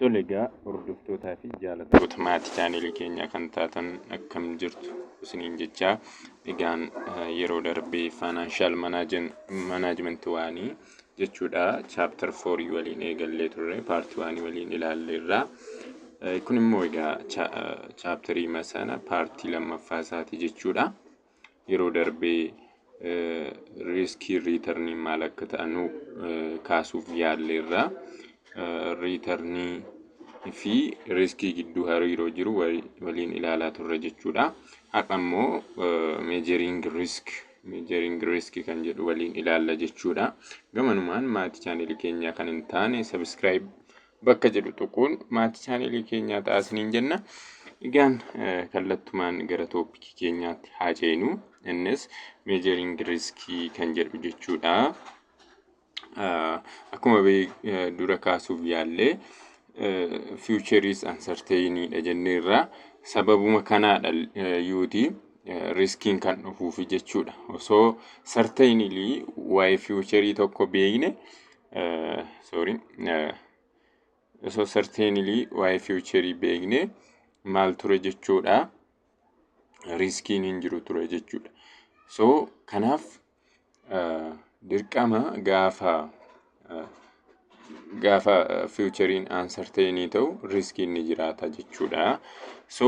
Tole egaa hordoftootaa fi jaalattoota maatii chaanelii keenyaa kan taatan akkam jirtu isiniin jechaa egaan eh, yeroo darbee faanaanshal manaajimentii waanii jechuudha chaaptar foorii waliin eegallee turre paartii waanii waliin ilaalleerra. Eh, Kun immoo egaa chaaptarii masana paartii lammaffaa isaati jechuudha. yeroo darbee riiskii riitarnii maal akka ta'anu kaasuuf yaalleerra. Riitarnii fi riiskii gidduu hariiroo jiru waliin ilaalaa turre jechuudha. Har'a immoo meejeriing riisk meejeriing riisk kan jedhu waliin ilaalla jechuudha. Gamanumaan maatii chaanelii keenyaa kan hin taane sabiskiraayib bakka jedhu tuquun maatii chaanelii keenyaa ta'a isiniin jenna. Egaan kallattumaan gara tooppikii keenyaatti haa ceenu. Innis meejeriing riskii kan jedhu jechuudha. Akkuma dura kaasuuf yaallee fiicheriis ansarteeyiniidha jenneerra. Sababuma kanaadha yuuti riskiin kan dhufuufi jechuudha. Osoo sarteeyinilii waa'ee fiicherii tokko beekne sorry osoo certainly waa'ee fiiwucherii beekne maal ture jechuudha riskiin hin jiru ture jechuudha so kanaaf dirqama gaafa gaafa fiiwucheriin aansarteenii ta'u riskiin ni jiraata jechuudha so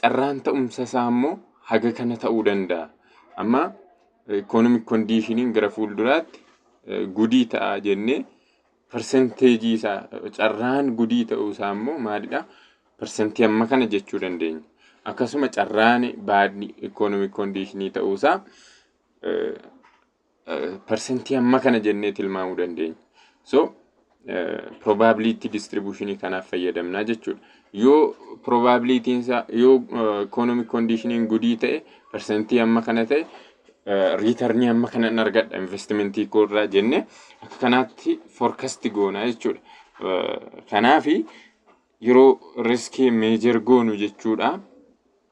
carraan ta'umsa isaa immoo haga kana ta'uu danda'a. Amma economic conditioning gara fuulduraatti eh, gudii ta'a jennee persenteejii isaa carraan gudii ta'uu isaa immoo maalidha? Persentii amma kana jechuu dandeenya. Akkasuma carraan baadni economic conditionii ta'uu isaa eh, parsantii amma kana jennee tilmaamuu dandeenya. So probability distribution kanaaf fayyadamnaa jechuudha. Yoo probability isaa yoo economic conditioning gudii ta'e parsantii amma kana ta'e riitarnii amma kana hin argadha investimentii koo irraa jenne akka kanaatti forecast goonaa jechuudha. Kanaafi yeroo riskii meejer goonu jechuudha.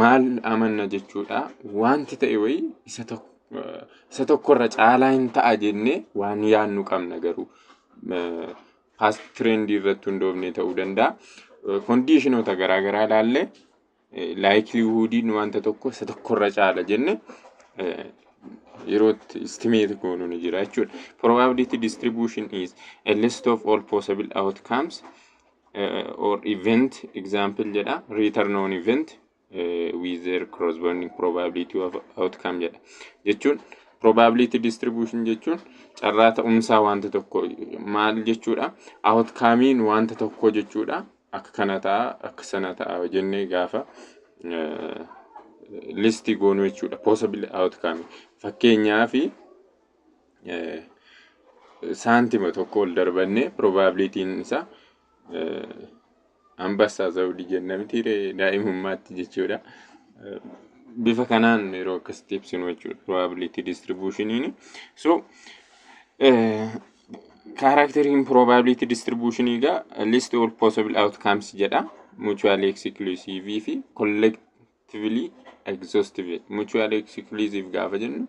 maal amanna jechuudha. Wanti ta'e wayii isa tokko isa tokkorra caalaa hin ta'a jennee waan yaadnu qabna garuu. Past trend irratti hundoofnee ta'uu danda'a. Kondiishinoota garaa garaa ilaallee laayikiliihuudiin wanta tokko isa tokkorra caala jenne yeroo itti istimeeti goonu ni jira jechuudha. Probability distribution is a list of all possible outcomes or event example jedha return on event uh, with their corresponding probability of outcome jedha jechuun probability distribution jechuun carraa ta'umsaa wanta tokko maal jechuudha outcomein wanta tokko jechuudha akka kana ta'a akka sana ta'a jennee gaafa uh, listii goonu jechuudha possible outcome fakkeenyaa fi saantima tokko ol darbannee probabilitiin isaa ambassaa zawudii jenna miti daa'imummaatti jechuudha. Bifa kanaan yeroo akkasitti ibsinu jechuudha probability distributionini. So kaaraakteriin probability distribution egaa list all possible outcomes jedha. Mutually exclusive fi actively exhaustive mutually exclusive gaafa jennu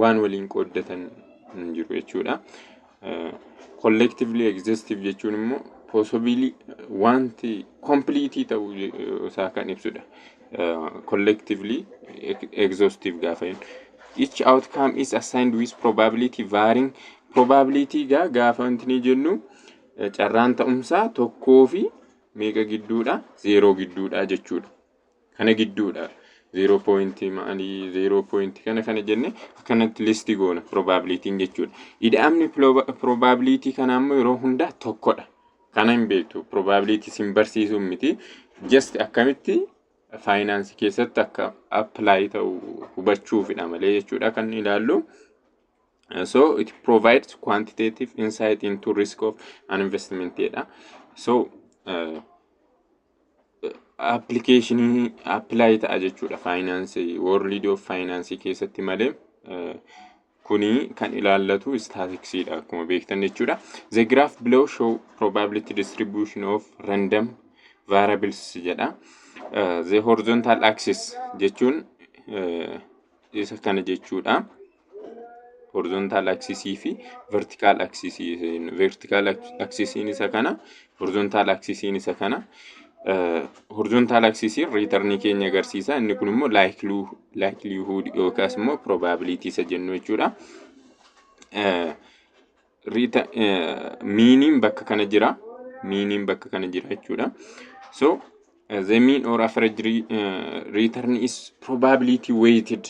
waan waliin qooddatan hin jiru jechuudha. Collectively exhaustive jechuun immoo possibly wanti complete ta'uu isaa kan ibsudha. Collectively exhaustive gaafa jennu. Each outcome is assigned with probability varying probability gaa gaafa wanti ni jennu carraan ta'umsaa tokkoo fi meeqa gidduudha zeeroo gidduudha jechuudha. kana gidduudha. 0 point maalii 0 point kana kana jenne akkanatti listi goona probabilitiin jechuudha. Ida'amni probabilitii kana ammoo yeroo hundaa tokkodha. Kana hin beektu probabilitii sin barsiisuu miti. Just akkamitti faayinaansii keessatti akka apply ta'u hubachuufidha malee jechuudha kan ilaallu. So it provides quantitative insight into risk of an investment jedha. So uh, appilikeeshinii appilaayi ta'a jechuudha faayinaansii world of faayinaansii keessatti malee kuni kan ilaallatu istaatiksiidha akkuma beektan jechuudha. The graph below show probability distribution of random variables jedha. The horizontal axis jechuun isa kana jechuudha. horizontal axis fi vertical axis vertical axis isa kana horizontal axis isa kana horizontal axis return keenya agarsiisa inni kun immoo likelihood yookaas immoo probability isa jennu jechuudha miiniin bakka kana jira miiniin bakka kana jira jechuudha so the mean or average return is probability weighted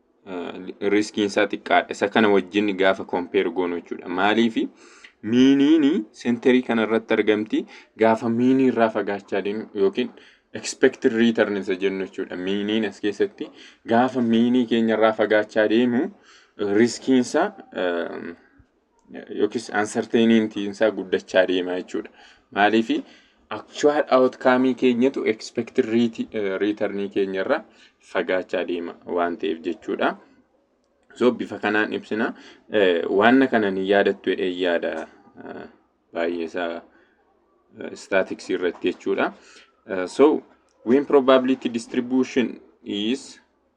riskiin isaa xiqqaadha. Isa kana wajjin gaafa kompeer goonu jechuudha. Maaliif miiniin senterii kana irratti argamti gaafa miinii irraa fagaachaa deemu yookiin expected return isa jennu jechuudha. Miiniin as keessatti gaafa miinii keenya irraa fagaachaa deemu riskiin isaa yookiis uncertainty isaa guddachaa deema jechuudha. Maaliif actual outcome keenyatu expected return keenya irraa fagaachaa deema waan ta'eef jechuudha. So bifa kanaan ibsina. Waan kana ni yaadattu jedhee yaada baay'ee isaa statics irratti jechuudha. So when probability distribution is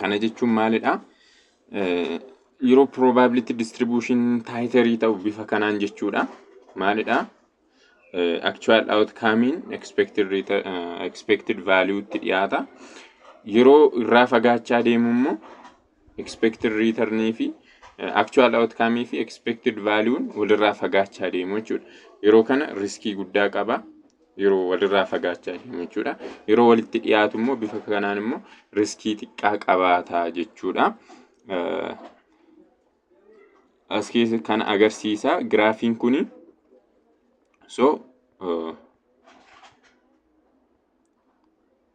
Kana jechuun maalidha? Yeroo probability distribution taayitarii ta'u bifa kanaan jechuudha. Maalidha? Actual outcome'n expected, return, uh, expected value'tti dhiyaata. Yeroo irraa fagaachaa deemu immoo expected return fi uh, actual outcome fi expected value'n walirraa fagaachaa deemu jechuudha. Yeroo kana riskii guddaa qaba. yeroo walirraa fagaachaa deemu jechuudha. Yeroo walitti dhiyaatu immoo bifa kanaan immoo riskii xiqqaa qabaata jechuudha. As keessa kan agarsiisa giraafiin kun so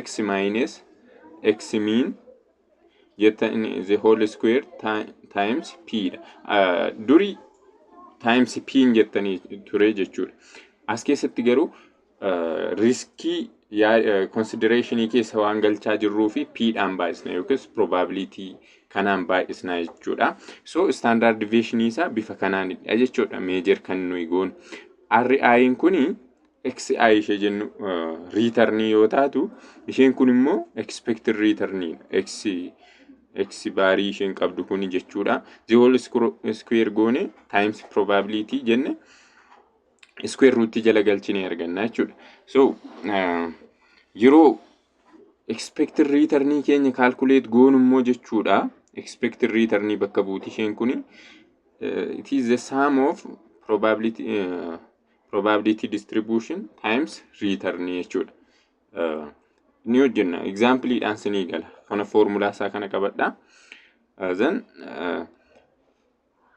x minus x mean jettan the whole square ti- times p dha. Ah, Duri times p hin jettanii ture jechuudha. As keessatti garuu ah, riskii yaa- considerationii keessa waan galchaa jirruu fi p dhaan baay'isna yookiis probability kanaan baay'isna jechuudha. So standard deviation isaa bifa kanaanidha jechuudha. Major kan nuyi goonu. RI'n kuni xi ishee jennu riitarnii yoo taatu isheen kun immoo expected riitarnii x x baarii isheen qabdu kun jechuudha the whole square goone times probability jenne square root jala galchinee arganna jechuudha so uh, yeroo expected riitarnii keenya calculate goonu immoo jechuudha expected riitarnii bakka buuti isheen kun uh, it is the sum of probability uh, probability distribution times return jechuudha. Uh, ni hojjenna example dhaan sinii gala kana formulaa isaa kana qabadha uh, then uh,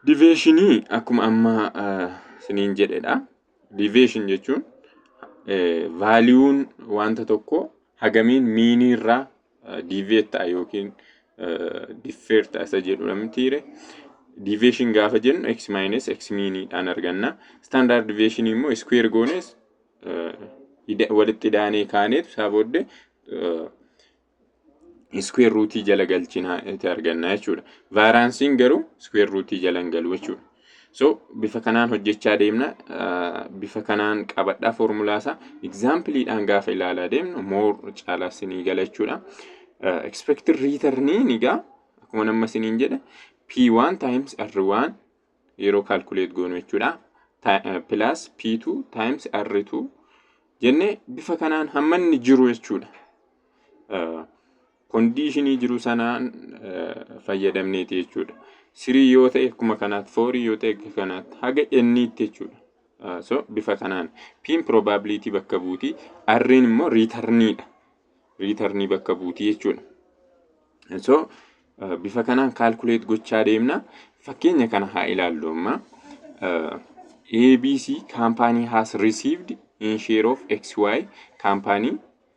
deviation akkuma amma uh, siniin jedhedha deviation jechuun uh, vaaliuun wanta tokko hagamiin miinii irraa diiveet ta'a yookiin diffeer ta'a isa jedhudha mitiire. Diiveeshin gaafa jennu x maayines x miiniidhaan arganna. Standard diiveeshin immoo iskuweer goonees walitti daanee kaaneetu isaa booddee iskuweer ruutii jala galchinaa itti arganna jechuudha. Vaaraansiin garuu iskuweer ruutii jala hin galu jechuudha. So bifa kanaan hojjechaa deemna. Bifa kanaan qabadhaa foormulaasaa egzaampiliidhaan gaafa ilaalaa deemnu moor caalaa sinii gala jechuudha. Expected return egaa akkuma nama siniin jedhe P1 times R1 yeroo calculate goonu jechuudha. Plus P2 times R2 jenne bifa kanaan hamma inni jiru jechuudha. kondiishinii jiru sanaan fayyadamneeti jechuudha. Sirii yoo ta'e akkuma kanaatti, foorii yoo ta'e akka kanaatti, haga enniitti jechuudha. So bifa kanaan piin probability bakka buuti, arriin immoo riitarniidha. Riitarnii bakka buuti jechuudha. So bifa kanaan kaalkuleet gochaa deemna. Fakkeenya kana haa ilaallu amma. ABC kaampaanii has received in share of XY kaampaanii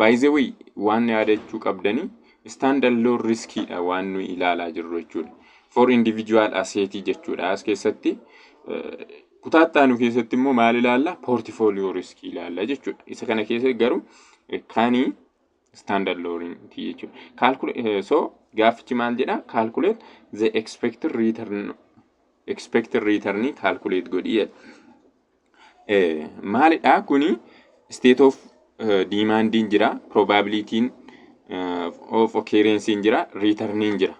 By the way waan yaadachuu qabdanii stand alone riskiidha waan nuyi ilaalaa jirru jechuudha. For individual asset jechuudha as keessatti. Kutaa itti aanu keessatti immoo maal ilaalla? Portfolio risk ilaalla jechuudha. Isa kana keessatti garuu kani stand alone ti jechuudha. Calculate so gaaffichi maal jedha? Calculate the expected return expected return calculate godhi jedha. maalidha kuni state of diimaandiin jira probabilitiin of occurrencein jira returniin jira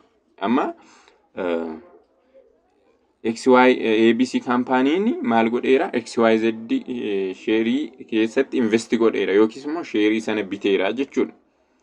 amma XY ABC kaampaaniin maal godheera XYZ sheerii keessatti investi godheera yookiis immoo sheerii sana biteera jechuudha.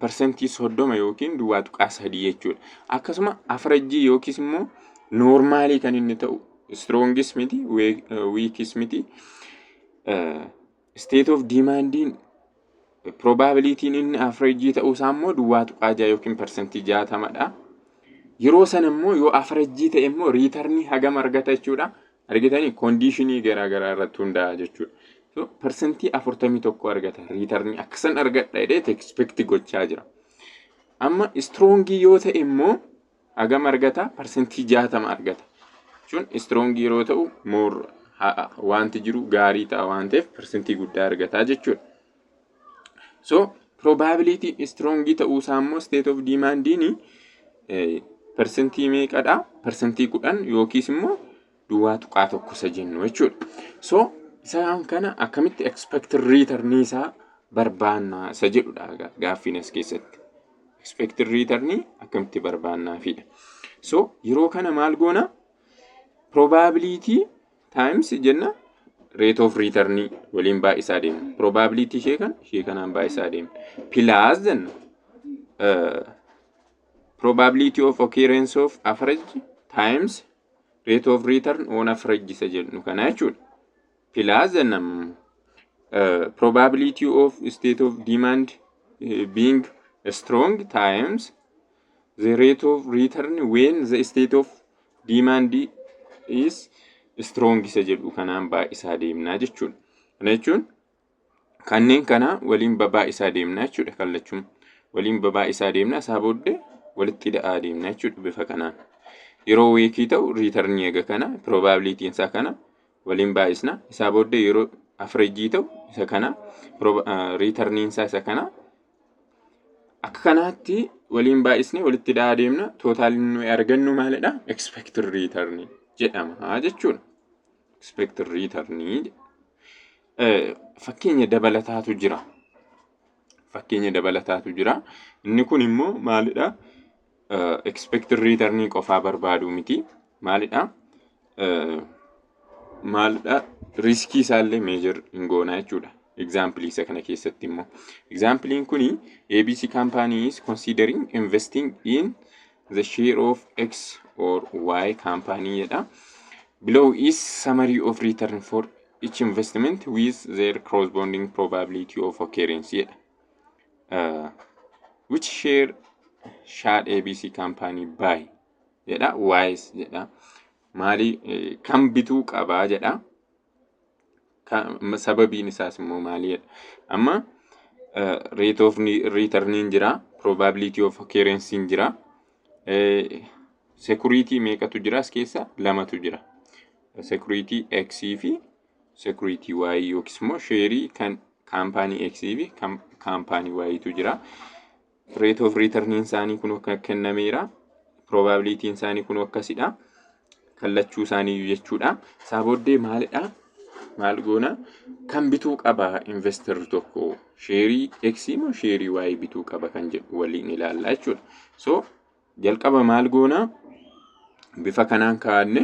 parsantii 30 yookiin duwwaa tuqaa 3 jechuudha. Akkasuma afarajjii yookiis immoo noormaalii kan inni ta'u istroongis miti wiikis miti isteet oof diimaandiin probabilitiin inni afarajjii ta'uu isaa immoo duwwaa tuqaa 6 yookiin parsantii 60dha. Yeroo sana immoo yoo afarajjii ta'e immoo riitarnii hagam argata jechuudha Argitanii kondiishinii garaa garaa irratti hundaa'a jechuudha. So parsantii afurtamii tokko argata riitarnii akkasan argadha jedhee expect gochaa jira. Amma istroongii yoo ta'e immoo hagam argata parsantii jaatama argata. Jechuun istroongii yeroo ta'u moor wanti jiru gaarii ta'a waan ta'eef parsantii guddaa argata jechuudha. So probability strong ta'uu isaa immoo state of demand ni persentii meeqadha? Persentii kudhan yookiis immoo duwwaa tuqaa tokko isa jennu jechuudha. So isaan kana akkamitti expected return isaa barbaanna isa jedhudha gaaffiin as keessatti. Expected return akkamitti barbaannaafidha. So yeroo kana maal goona? Probability times jenna rate of return waliin baay'isaa deemna. Probability ishee kan ishee kanaan baay'isaa deemna. Plus jenna uh, probability of occurrence of average times rate of return on average isa jennu kana jechuudha. Plus jenna uh, probability of state of demand uh, being strong times the rate of return when the state of Demand is strong isa jedhu kanaan baay'isaa deemnaa jechuudha. Kana jechuun kanneen kana waliin baay'isaa deemnaa jechuudha kallachuun. Waliin baay'isaa deemnaa isaa booddee walitti da'aa deemnaa jechuudha bifa kanaan. Yeroo weekii ta'u riitarnii eega kana piroobaabiliitiin isaa kana waliin baay'isna. Isaa booddee yeroo afreejii ta'u isa kana riitarniin isaa isa kana Akka kanaatti waliin baay'isnee walitti hidhaa adeemna. Tootaaliin nuyi argannu maalidha? Expected return jedhama jechuudha. Expected return fakkeenya dabalataatu jira. Fakkeenya dabalataatu jira. Inni kun immoo maalidha? expected return qofaa barbaadu miti maalidha maalidha riskii isaallee meejar hin goonaa jechuudha. Example isa kana keessatti immoo examplein kuni ABC company is considering investing in the share of X or Y company jedha. Below is summary of return for each investment with their corresponding probability of occurrence jedha. Uh, which share shaad abc company buy jedha wise jedha maali eh, kan bituu qabaa jedha Ka- ma- sababiin isaas immoo maali jedha amma eh, rate of ni- returniin jira probability of occurrence jira eh, security meeqatu jira as keessa lamatu jira security x fi security waayii yookiis immoo sheerii kan kaampaanii X fi kan kaampaanii waayiitu jira. Rate of return isaanii kun akka kennameera. Probability isaanii kun akkasidha. Kallachuu isaanii jechuudha. Isaa booddee maalidha? Maal goona? Kan bituu qaba investor tokko sheerii X moo sheerii Y bituu qaba kan jedhu waliin ilaalla jechuudha. So Jalqaba maal goona? Bifa kanaan kaa'anne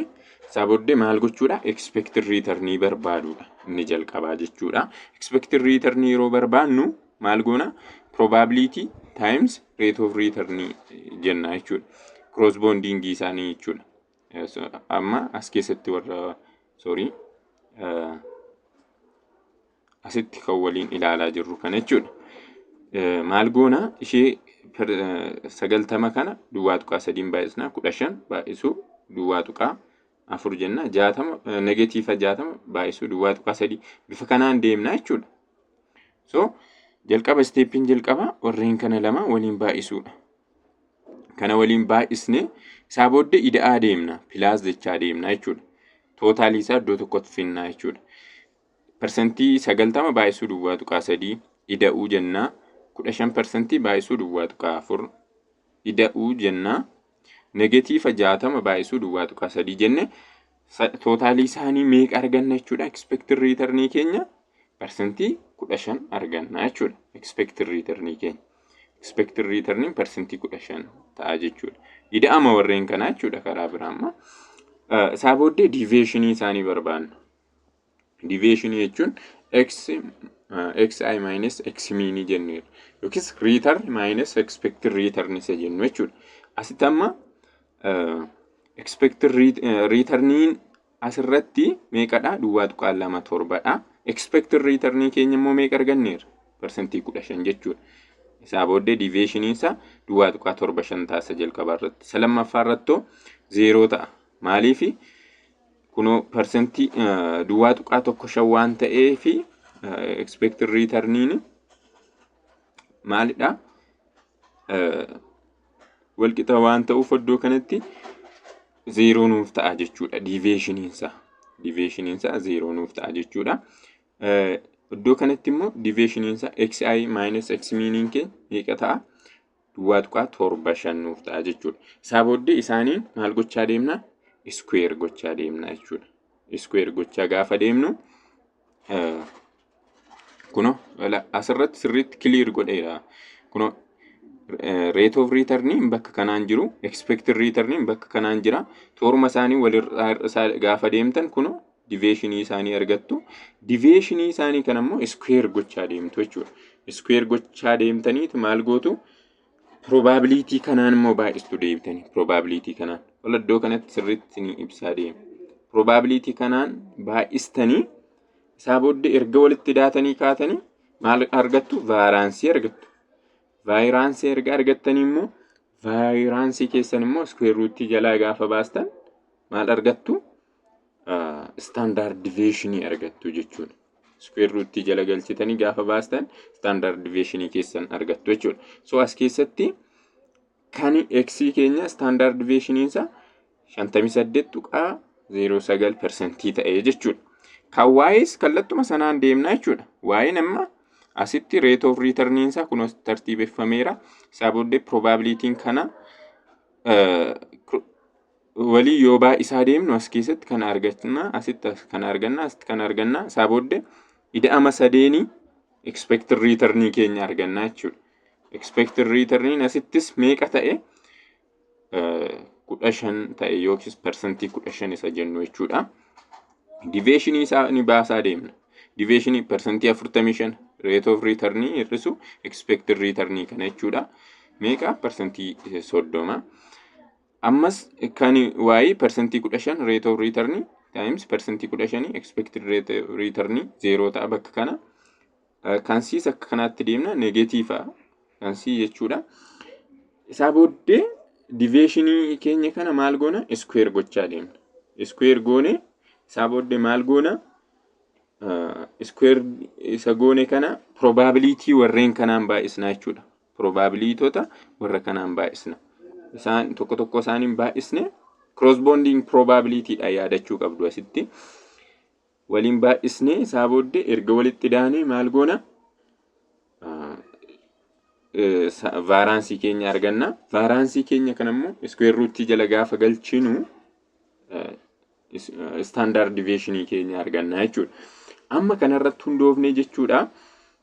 isaa booddee maal gochuudha? Expected return barbaaduudha. Inni jalqabaa jechuudha. Expected return yeroo barbaannu maal goona? Probability times rate of return jenna jechuudha. Cross bonding isaanii jechuudha. Amma as keessatti warra sorry asitti kan waliin ilaalaa jirru kana jechuudha. Maal goona ishee sagaltama kana duwwaa tuqaa sadiin baay'isnaa kudha shan baay'isuu duwwaa tuqaa afur jenna jaatama negatiifa jaatama baay'isuu duwwaa tuqaa sadii bifa kanaan deemna jechuudha. So jalqaba isteeppiin jalqaba warreen kana lama waliin baay'isuudha. Kana waliin baay'isnee isaa booddee ida'aa deemna pilaas jechaa deemna jechuudha. Tootaalii isaa iddoo tokkotti finnaa jechuudha. Parsantii 90 baay'isuu duwwaa tuqaa 3 ida'uu jenna. 15 parsantii baay'isuu duwwaa tuqaa 4 ida'uu jenna. Negatiifa 60 baay'isuu duwwaa tuqaa 3 jenne tootaalii isaanii meeqa arganna jechuudha. Expected return keenya parsantii 15 arganna jechuudha. Expected return keenya. Expected return parsantii 15 ta'a jechuudha. Ida'ama warreen kanaa jechuudha karaa biraa amma. Isaa booddee deviation isaanii barbaanna. Diviyeeshinii jechuun x xi minus x miinii jenneera. Yookiis return minus expected return isa jennu jechuudha. Asitti amma expected returniin asirratti meeqadha? Duwwaa tuqaa lama torbadha. Expected returnii keenya immoo meeqa arganneera? Parsantii kudha shan jechuudha. Isaa booddee diviyeeshinii isaa duwwaa tuqaa torba shan taasisa jalqabaa irratti. Isa lammaffaa irratti zeeroo ta'a. Maaliifi? Kunoo parsantii duwwaa tuqaa tokko shan waan ta'eef expected returniin maalidha? Walqixa waan ta'uuf iddoo kanatti zeeroo nuuf ta'a jechuudha. Diiveeshiniin isaa. Diiveeshiniin isaa zeeroo nuuf ta'a jechuudha. Iddoo kanatti immoo diiveeshiniin isaa xi minus x meaning kee meeqa ta'a? duwwaa tuqaa torba shan nuuf ta'a jechuudha. Isaa booddee isaaniin maal gochaa deemna? Iskuweer gochaa deemna jechuudha. Iskuweer gochaa gaafa deemnu kuno asirratti sirriitti kiliir godheera. Kuno reet oof riitarniin bakka kanaan jiru ekspeektir riitarniin bakka kanaan jira. Toorma isaanii walirraa gaafa deemtan kuno diveeshinii isaanii argattu. Diveeshinii isaanii kan ammoo iskuweer gochaa deemtu jechuudha. Iskuweer gochaa deemtaniitu maal gootu? Piroobaabiliitii kanaan immoo baay'istu deebitanii. Piroobaabiliitii kanaan. Wal iddoo kanatti sirriitti ni ibsaa deema. Piroobaabiliitii kanaan baay'istanii isaa booddee erga walitti daatanii kaatanii maal argattu? Vaaraansii argattu. Vaayiraansii erga argattanii immoo vaayiraansii keessan immoo iskuweer ruutii jalaa gaafa baastan maal argattu? standard deviation argattu jechuudha. Square root jala galchitanii gaafa baastan standard deviation keessan argattu jechuudha. So as keessatti kan x keenya standard deviation isaa 58 tuqaa 09 persentii ta'ee jechuudha. Kan waa'ees kallattuma sanaan deemnaa jechuudha. Waa'een amma asitti rate of return isaa kun tartiibeffameera. Isaa booddee probabilitiin kana walii yoo baay'isaa deemnu as keessatti kana arganna asitti kana arganna asitti kana arganna isaa booddee ida'ama sadeenii expected return keenya arganna jechuudha. Expected return asittis meeqa ta'e kudha shan ta'e yookiis parsantii kudha shan isa jennu jechuudha. Diveeshinii isaa ni baasaa deemna. Diveeshinii parsantii afurtamii shan rate of return hir'isu expected return kana jechuudha. Meeqa parsantii soddoma. Ammas kan y persentii 15 rate of return times persentii 15 expected rate of return 0 ta'a bakka kana. Kan c's akka kanaatti deemna negatiifa kan c jechuudha. Isaa booddee diveeshinii keenya kana maal goona iskuweer gochaa deemna. Iskuweer goone isaa booddee maal goona iskuweer isa goone kana probabilitii warreen kanaan baay'isnaa jechuudha. Probaabiliitota warra kanaan baay'isna. Isaan tokko tokko isaaniin baay'isne crossbonding probability dha yaadachuu qabdu asitti. Waliin baay'isne isaa booddee erga walitti daanee maal goona? Vaaraansii keenya arganna. Vaaraansii keenya kana immoo iskuweer ruutii jala gaafa galchinu istaandaard diveeshinii keenya arganna jechuudha. Amma kanarratti hundoofnee jechuudha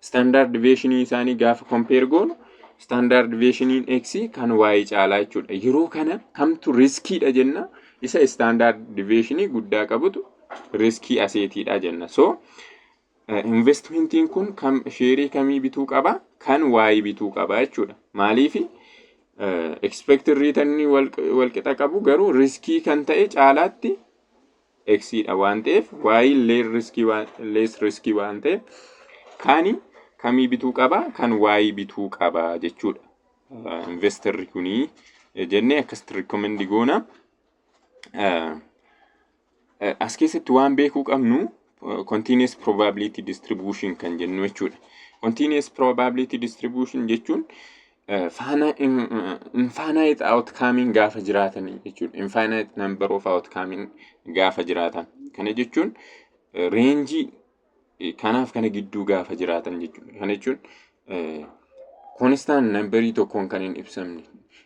Standard deviation isaanii gaafa compare goonu standard deviation x kan y caalaa jechuudha. Yeroo kana kamtu riskiidha jenna isa standard deviation guddaa qabutu riskii aseetiidha jenna. So investmentiin kun kam sheerii kamii bituu qaba kan y bituu qaba jechuudha. Maaliif expected return walqixa qabu garuu riskii kan ta'e caalaatti x dha waan ta'eef y less risk waan less risk waan ta'eef kaani kamii bituu qaba kan y bituu qaba jechuudha Eh, investorri kuni eh, jennee akkasitti recommend goona Eh, Eh, as keessatti waan beekuu qabnu eh, continuous probability distribution kan jennu jechuudha. Continuous probability distribution jechuun infinite outcoming gaafa jiraatan jechuudha. Infinite number of outcoming gaafa jiraatan. Kana jechuun reenjii kanaaf kana gidduu gaafa jiraatan jechuudha. Kana jechuun konstaan nambarii tokkoon kan hin ibsamne.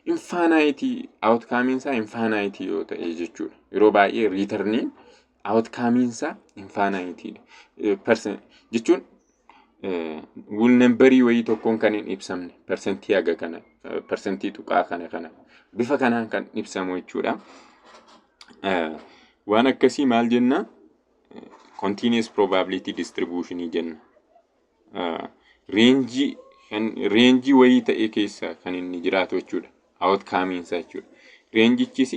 Infinite outcoming isaa infinite yoo ta'e jechuudha. Yeroo baay'ee riitarniin Outcomeinsaa infaanaayitiidha. Persen- Jechuun wul nambarii wayii tokkoon kan hin ibsamne persentii haga kana eh, persentii tuqaa kana kana bifa kanaan kan ibsamu jechuudha. Eh, Waan akkasii maal jenna? Continuous probability distribution jenna. Ah, reenjii kan reenjii wayii ta'e keessa kan inni jiraatu jechuudha. Outcomeinsa jechuudha. Reenjichis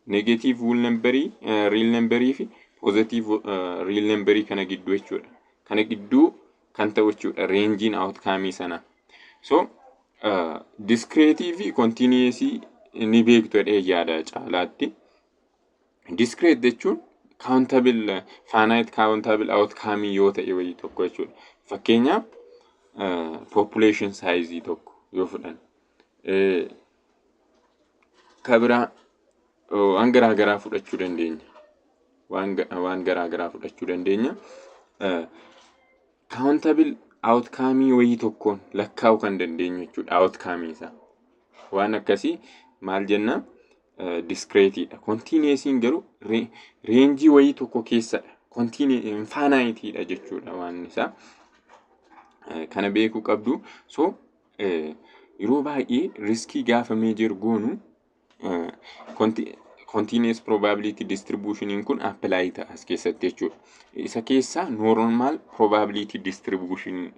Negative whole number, real number fi positive real number kana gidduu jechuudha. Kana gidduu kan ta'u jechuudha reenjiin outcome sana. So uh, discrete fi continuous ni beektu jedhee yaada caalaatti. Discrete jechuun countable finite countable outcome yoo ta'e wayii tokko jechuudha. Fakkeenyaaf uh, population size tokko yoo fudhan. Uh, Ka biraa oh, waan garaa garaa fudhachuu dandeenya. Waan ga- waan garaa garaa fudhachuu dandeenya. Kaawuntabil outcome wayii tokkoon lakkaa'uu kan dandeenyu jechuudha outcome isaa. Waan akkasii maal jenna? Diskreetiidha. Kontiineesiin garuu re- reenjii wayii tokko keessadha. Infaanaayitiidha jechuudha waan isaa. Eh, kana beekuu qabdu so Yeroo baay'ee riskii gaafa meejer goonu continuous probability distribution kun apply ta'a as keessatti jechuudha. Isa keessaa normal probability distribution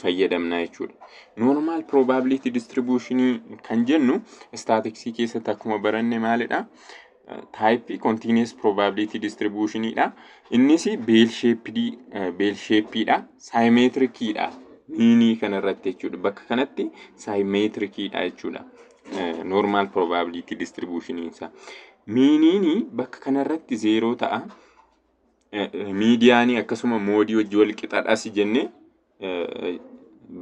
fayyadamna jechuudha. Normal probability distribution kan jennu staatiksii keessatti akkuma baranne maalidha? taayippii kontiinees probability distribution dha. Innis beel sheepidii beel sheepiidha. Saayimeetirikiidha. Miinii kanarratti jechuudha. Bakka kanatti saayimeetirikiidha jechuudha. Normal probability distribution isaa. Miiniin bakka kanarratti zeeroo ta'a. Miidiyaanii akkasuma moodii hojii wal qixadhas jennee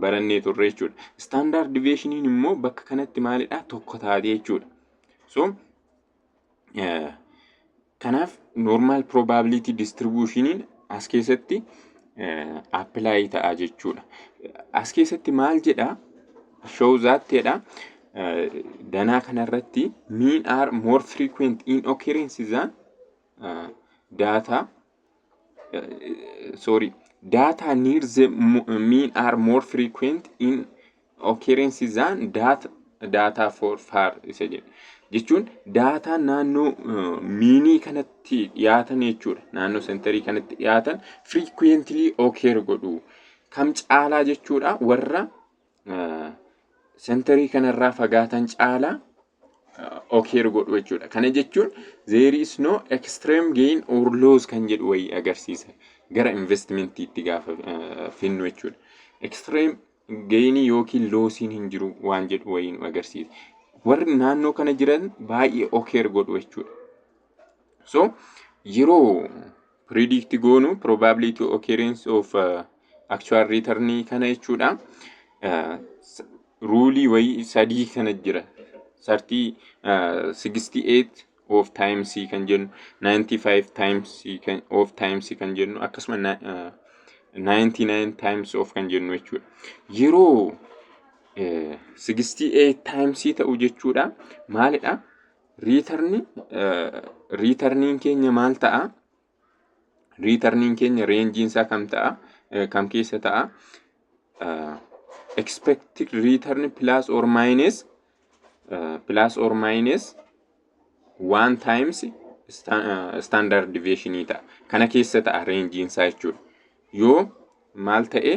barannee turre jechuudha. Standard deviationiin immoo bakka kanatti maalidha? Tokko taatee jechuudha. So Kanaaf normal probability distribution as keessatti apply ta'a jechuudha. As keessatti maal jedha? Show that jedha. Danaa kanarratti mean are more frequent in occurrence than data uh, sorry data needs the mo- mean are more frequent in occurrence than data data for far isa jedhu jechuun daataa naannoo uh, miinii kanatti dhiyaatan jechuudha naannoo sentarii kanatti dhiyaatan frequently occur godhu kam caalaa jechuudha warra sentarii kanarraa fagaatan caalaa okeer godhu jechuudha. Kana jechuun there is no extreme gain or loss kan jedhu wayii agarsiisa gara investmentiitti gaafa finnu jechuudha. Extreme geenii yookiin loosiin hin jiru waan jedhu wayii nu agarsiisa. Warri naannoo kana jiran baay'ee okeer godhu jechuudha. So yeroo predict goonu probability occurrence of uh, actual return kana jechuudha. Uh, ruulii wayii sadii kana jira. Sartii uh, 68 of times kan jennu 95 times kan of times kan jennu akkasuma na- uh, 99 times of kan jennu jechuudha. Yeroo eh, 68 times ta'u jechuudha. Maalidha? Riitarni riitarniin keenya maal ta'a? Riitarniin keenya reenjiin isaa kam ta'a? Kam keessa ta'a? Expected return plus or minus plus or minus one times standard deviation ta'a. Kana keessa ta'a reenjiin isaa jechuudha. yoo maal ta'e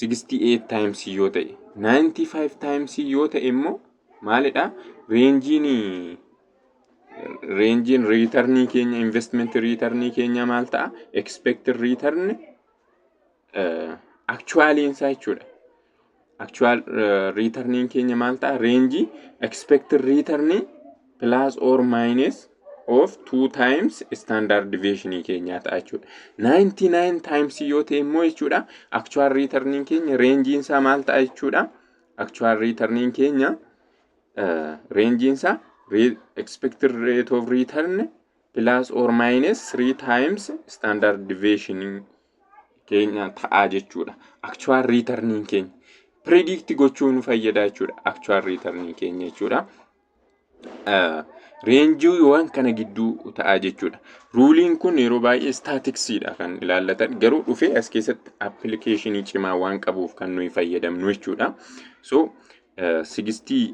68 times yoo ta'e 95 times yoo ta'e immoo maalidha reenjiin reenjiin riitarnii keenya investment riitarnii keenya maal ta'a expected return actualiin isaa jechuudha actual returniin keenya maal ta'a range expected return plus or minus of 2 times standard deviation keenyaa ta'a jechuudha 99 times yoo ta'e immoo jechuudha actual returniin keenya rangein isaa maal ta'a jechuudha actual returniin keenya uh, rangein isaa re- expected rate of return plus or minus 3 times standard deviation keenya ta'a jechuudha. Actual return keenya predict gochuu nu fayyada jechuudha. Actual return keenya jechuudha. Reenjiiwwan kana gidduu ta'a jechuudha. Ruuliin kun yeroo baay'ee istaatiksiidha kan ilaallatan garuu dhufee as keessatti appilikeeshinii cimaa waan qabuuf kan nuyi fayyadamnu jechuudha. So sigistii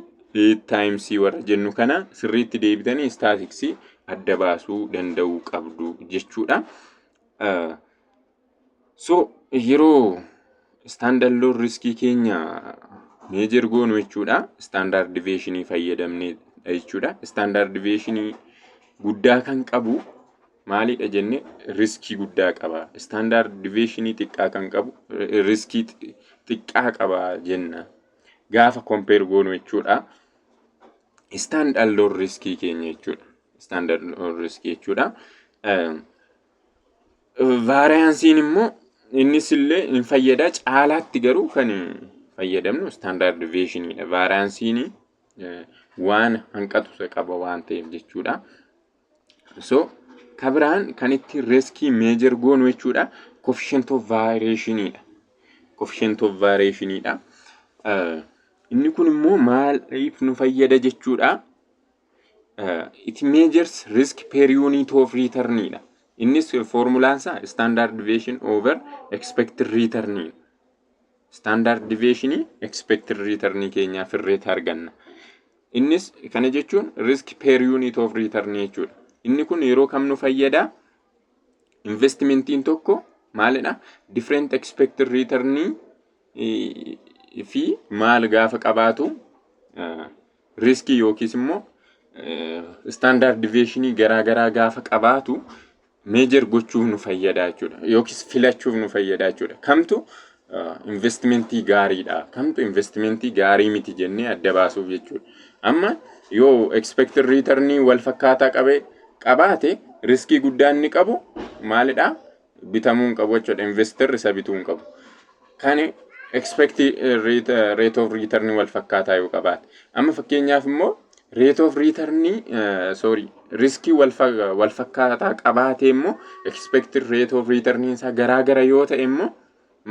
taayimsii warra jennu kana sirriitti deebitanii istaatiksii adda baasuu danda'uu qabdu jechuudha. Uh, so yeroo standard loan riskii keenya meejer goonu jechuudha standard deviation fayyadamneedha jechuudha standard deviation guddaa kan qabu maalidha jenne riskii guddaa qaba standard deviation xiqqaa kan qabu eh, riskii xi- xiqqaa qaba jenna gaafa compare goonu jechuudha istaandardoo riskii keenya jechuudha. Istaandardoo riskii jechuudha. Vaariyaansiin immoo innis illee hin fayyada caalaatti garuu kan fayyadamnu istaandardi veeshiniidha. Vaariyaansiin waan hanqatu qaba waan ta'eef jechuudha. So ka biraan kan ittiin riskii meejar goonu jechuudha coefficient of variation dha. Coefficient of variation dha. Eh, Inni kun immoo maaliif nu fayyada jechuudha. Eh, It measures risk per unit of return dha. Innis foormulaan isaa standard deviation over expected return dha. standard deviation expected return keenyaa firreetti arganna. Innis kana jechuun risk per unit of return jechuudha. Inni kun yeroo kam nu fayyada? Investmentiin tokko maalidha? Different expected return fi maal gaafa qabaatu riiskii yookiis immoo istaandaard diveeshinii garaa garaa gaafa qabaatu meejar gochuuf nu fayyada jechuudha. Yookiis filachuuf nu fayyada jechuudha. Kamtu investimentii gaariidha. Kamtu investimentii gaarii miti jennee adda baasuuf jechuudha. Amma yoo expected return wal fakkaataa qabe qabaate riskii guddaan inni qabu maalidha? bitamuu hin qabu jechuudha. Investor isa bituu hin qabu. Kan expect rate of return wal fakkaataa yoo qabaate. Amma fakkeenyaaf immoo rate of return sorry riskii wal fakkaataa qabaatee immoo expect rate of return isaa garaa gara yoo ta'e immoo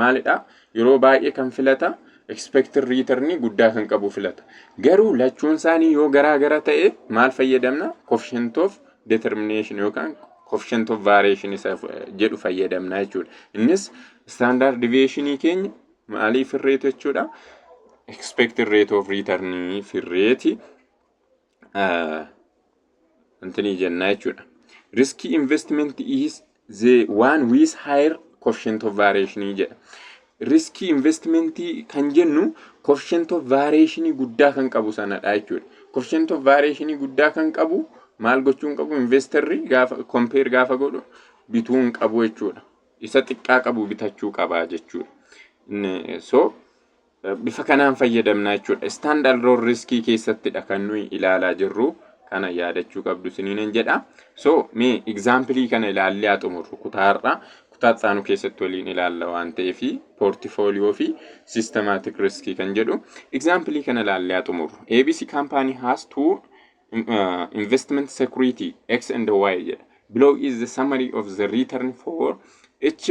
maalidha yeroo baay'ee kan filata expected return guddaa kan qabu filata garuu lachuun isaanii yoo garaa gara ta'e maal fayyadamna coefficient of determination yookaan coefficient of variation isa jedhu fayyadamna jechuudha innis standard deviation keenya maalii firreetu jechuudha expected rate of return firreeti intinii jennaa jechuudha. Riskii investment is the one with higher coefficient of variation jedha. Riskii investmentii kan jennu coefficient of variation guddaa kan qabu sanadha jechuudha. Coefficient of variation guddaa kan qabu maal gochuu hin qabu investarri gaafa compare gaafa godhu bituu hin qabu jechuudha. Isa xiqqaa qabu bitachuu qaba jechuudha. So Bifa kanaan fayyadamna jechuudha. Stand alone riskii keessattidha kan nuyi ilaalaa jirru. Kana yaadachuu qabdu isiniin jedha. So mee egzaampilii kana ilaallee haa xumurru kutaa har'aa. Kutaa isaanu keessatti waliin ilaalla waan ta'eef poortifooliyoo fi sistemaatik riskii kan jedhu. Egzaampilii kana ilaallee haa xumurru. ABC company has two uh, investment security X and Y jedha. Below is the summary of the return for each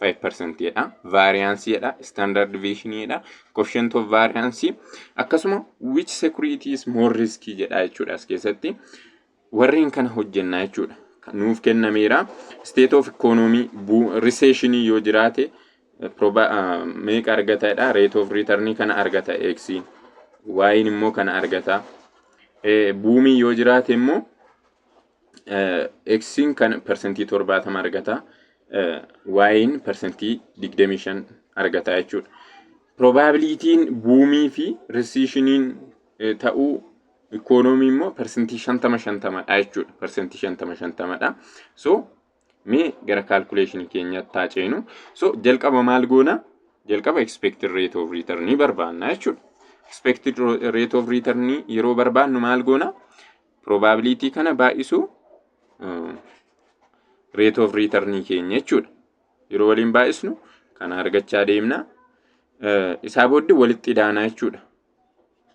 5% dha. Variance dha. Standard deviation dha. Coefficient of variance akkasuma which security is more risky jedha jechuudha as keessatti. Warreen kana hojjennaa jechuudha. Nuuf kennameera. State of economy recession yoo jiraate proba meeqa argata jedha. Rate of return kana argata X. Y'n immoo kana argata. Buumii yoo jiraate immoo X'n kan persentii 70 argata. Y'n persentii 25 argata jechuudha. Probabilitiin buumii fi risiishiniin ta'uu ikoonoomii immoo persentii 50 50 dha jechuudha. Persentii 50 50 dha. So mee gara kaalkuleeshinii keenyaatti taa ceenu. So jalqaba maal goona? Jalqaba expected rate of return barbaanna jechuudha. Expected rate of return yeroo barbaannu maal goona? probability kana baay'isu rate of return keenya jechuudha. Yeroo waliin baay'isnu kana argachaa deemna. Isaa booddee walitti idaanaa jechuudha.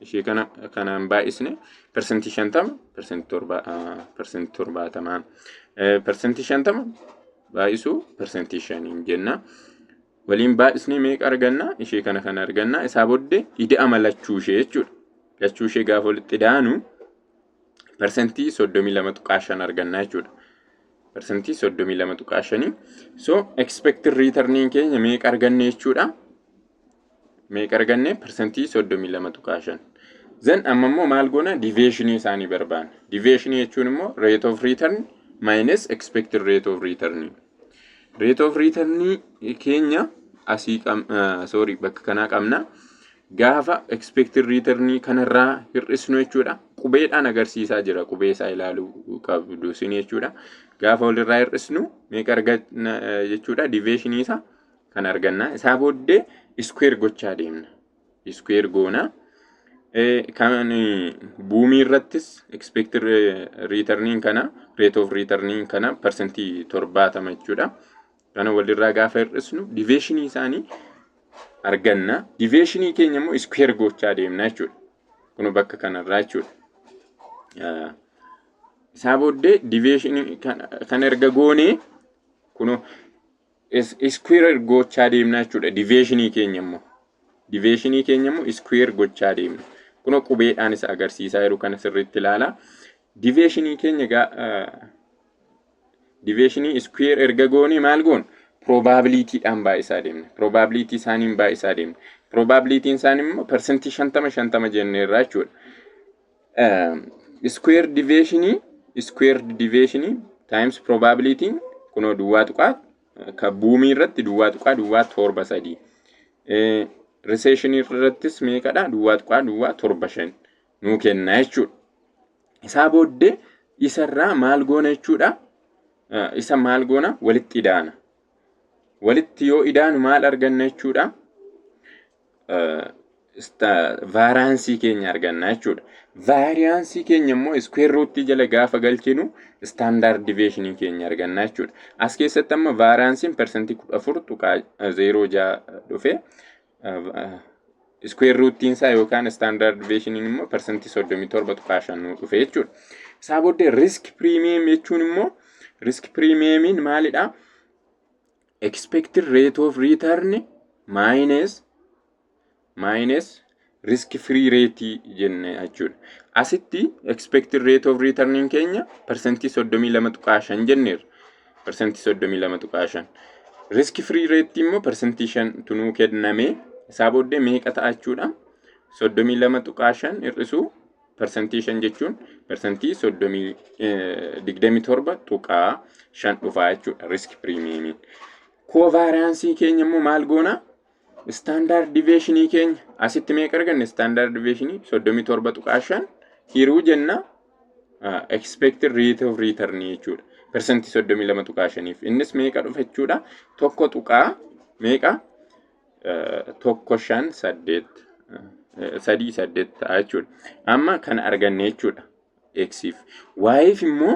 Ishee kana kanaan baay'isne persentii shantama persentii torba persentii torbaatamaa persentii shantama baay'isuu persentii shaniin jenna. Waliin baay'isnee meeqa arganna? Ishee kana kana arganna. Isaa booddee ida'ama lachuu ishee jechuudha. Lachuu ishee gaafa walitti ida'anu parsantii 32.5 arganna jechuudha. Parsantii 32.5. So expected returniin keenya meeqa arganne jechuudha? Meeqa arganne? Parsantii 32.5. Zan amma immoo maal goona? Diveeshinii isaanii barbaanna. Diveeshinii jechuun immoo rate of return minus expected rate of return. Rate of return keenya asii sorry bakka kanaa qabna. Gaafa expected return kanarraa hir'isnu jechuudha. Qubeedhaan agarsiisaa jira. Qubee isaa ilaaluu qabdu isin jechuudha. Gaafa walirraa hir'isnu meeqa arganna jechuudha. Diveeshinii isaa kan arganna. Isaa booddee iskuweer gochaa deemna. iskuweer goona. Kan buumii irrattis expected returniin kana rate of returniin kana parsantii torbaatama jechuudha. Kana walirraa gaafa hir'isnu diveeshinii isaanii arganna. Diveeshinii keenya immoo iskuweer gochaa deemna jechuudha. Kun bakka kanarraa jechuudha. Isaa booddee diveeshinii kan erga goonee kun iskuweer gochaa deemna jechuudha. Diveeshinii keenya immoo diveeshinii keenya immoo iskuweer gochaa deemna. Kunoo qubeedhaan isa agarsiisaa jiru kana sirriitti ilaala. Diveeshinii keenya egaa diveeshinii iskuweer erga goonee maal goon? Piroobaabiliitiidhaan baay'isaa deemna. Piroobaabiliitii isaaniin baay'isaa deemna. Piroobaabiliitiin isaanii immoo parsantii shantama shantama jenneerra jechuudha. Iskuweer diveeshinii iskuweer diveeshinii taayims probabilitiin kunoo duwwaa tuqaa ka buumii irratti duwwaa tuqaa duwwaa torba sadii. Riseeshinii irrattis meeqadha duwwaa tuqaa duwwaa torba shan nuu kenna jechuudha. Isaa booddee isarraa maal goona jechuudha? Isa maal goona walitti idaana. Walitti yoo idaanu maal arganna jechuudha? vaaraansii keenya arganna jechuudha. Vaariyaansii keenya immoo iskuweer ruutii jala gaafa galchinu istaandaard diveeshinii keenya arganna jechuudha. As keessatti amma vaaraansiin parsantii kudha afur tuqaa zeeroo ja'a dhufe. Iskuweer ruutiin isaa yookaan istaandaard diveeshiniin immoo parsantii soddomii torba tuqaa shan nuu dhufe jechuudha. Isaa booddee riisk piriimiyeem jechuun immoo riisk piriimiyeemiin maalidhaa? Expected rate of return minus minus risk free rate jenne jechuudha. Asitti expected rate of return keenya parsantii 32.5 jenneerra. Parsantii 32.5. Risk free rate immoo parsantii 5 tunuu kenname. Isaa booddee meeqa ta'a jechuudha? 32.5 hir'isuu Persentii 5 jechuun persentii 27.5 dhufaa jechuudha risk piriimiyeemiin. Koovaariyaansii keenya immoo maal goona? Istaandaard diveeshinii keenya asitti meeqa arganne? Istaandaard diveeshinii 37.5 hiruu jenna expected rate of return jechuudha. Persentii 32.5f innis meeqa dhufa jechuudha? Tokko tuqaa meeqa? tokko shan saddeet sadii saddeet ta'a jechuudha. Amma kana arganne jechuudha. Eksiif. Waayiif immoo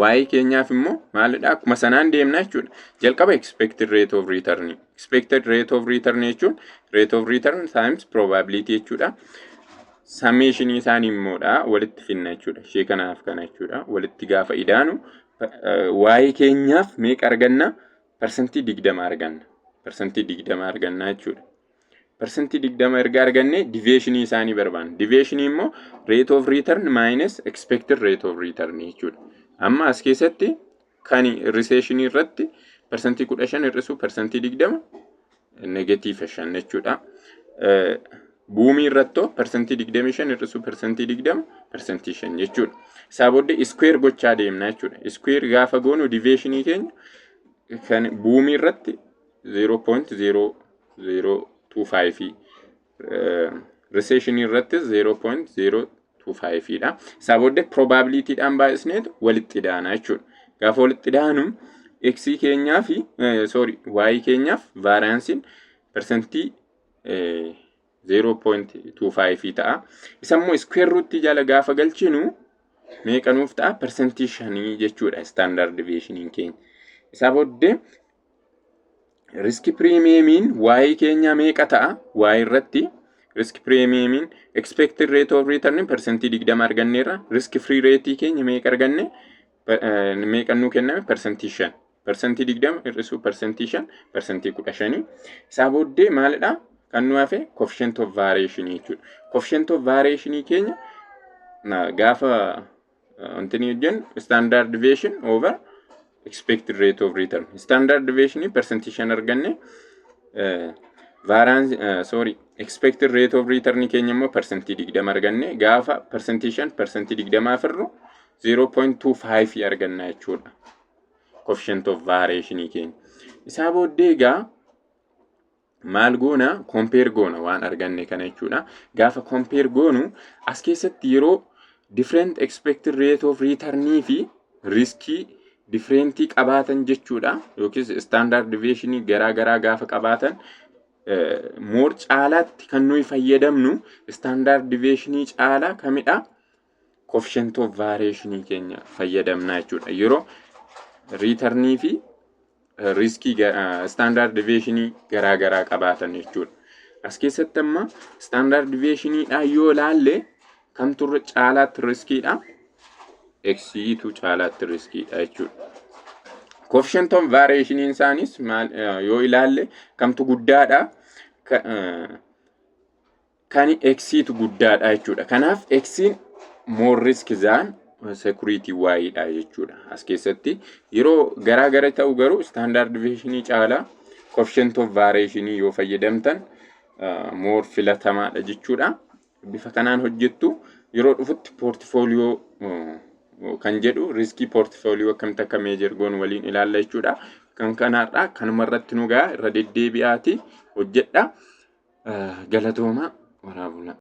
waayii keenyaaf immoo maalidha akkuma sanaan deemna jechuudha. Jalqaba expected rate of return. Expected rate of return jechuun rate of return times probability jechuudha. Summation isaanii immoodha walitti finna jechuudha. Ishee kanaaf kana jechuudha. Walitti gaafa idaanu waayii keenyaaf meeqa arganna? parsantii digdama arganna. Parsantii digdama arganna jechuudha. Parsantii digdama erga argannee diveeshinii isaanii barbaanna. Diveeshinii immoo rate of return minus expected rate of return jechuudha. Amma as keessatti kan riseeshinii irratti parsantii kudha shan hir'isuu parsantii digdama Negative shan jechuudha. Buumii irrattoo persentii digdamii shan hir'isuu persentii digdama persentii shan jechuudha. Isaa booddee iskuweer gochaa deemna jechuudha. Iskuweer gaafa goonu diveeshinii keenya kan buumii irratti 0.0025 riseeshinii irratti 0.025 dha. Isaa booddee probabilitiidhaan baay'isneetu walitti idaana jechuudha. Gaafa walitti idaanu x keenyaa fi sorry y keenyaaf vaariyaansiin persentii 0.25 ta'a. Isa immoo iskuweer ruutii jala gaafa galchinu meeqa nuuf ta'a? Persentii 5 jechuudha istaandaard deviyeeshiniin keenya. Isaa booddee riski piriimiyeemiin waa'ee keenyaa meeqa ta'a waa'ee irratti riski piriimiyeemiin expected rate of return persentii 20 arganneerra riski free rate keenya meeqa arganne meeqa nuu kenname persentii 5 persentii 20 hir'isuu persentii 5 persentii 15 isaa booddee maalidha kan nu hafe coefficient of variation jechuudha coefficient of variation keenya gaafa Wanti inni hojjennu standard deviation over expected rate of return. Standard deviation percentage shan arganne variance sorry expected rate of return keenya immoo percentage digdama arganne gaafa percentage shan percentage digdama firru 0.25 arganna jechuudha. Coefficient of variation keenya. Isaa booddee egaa maal goona kompeer goona waan arganne kana jechuudha. Gaafa kompeer goonu as keessatti yeroo different expected rate of return fi riskii differentii qabaatan jechuudha yookiis standard deviation garaa garaa gaafa qabaatan moor caalaatti kan nuyi fayyadamnu standard deviation caalaa kamidha coefficient of variation keenya fayyadamna jechuudha. Yeroo riitarnii fi riiskii standard deviation garaa garaa qabaatan jechuudha. As keessatti amma standard deviation dhaa yoo ilaalle kamtu irra caalaatti riskiidha? Eksiitu caalaatti riskiidha jechuudha. Coefficient of variation isaanis maal yoo ilaalle kamtu guddaadha? kan eksiitu guddaadha jechuudha. Kanaaf eksiin more risk than security y dha jechuudha. As keessatti yeroo garaa gara ta'u garuu standard deviation caalaa coefficient of variation yoo fayyadamtan uh, more filatamaadha jechuudha. Bifa kanaan hojjettu yeroo dhufutti portfolio uh, kan jedhu riskii portfolio akkamitti akka meejar goon waliin ilaalla jechuudha. Kan kanaarraa kanuma irratti nu ga'a irra deddeebi'aati hojjedha. Galatoomaa waraabulaa.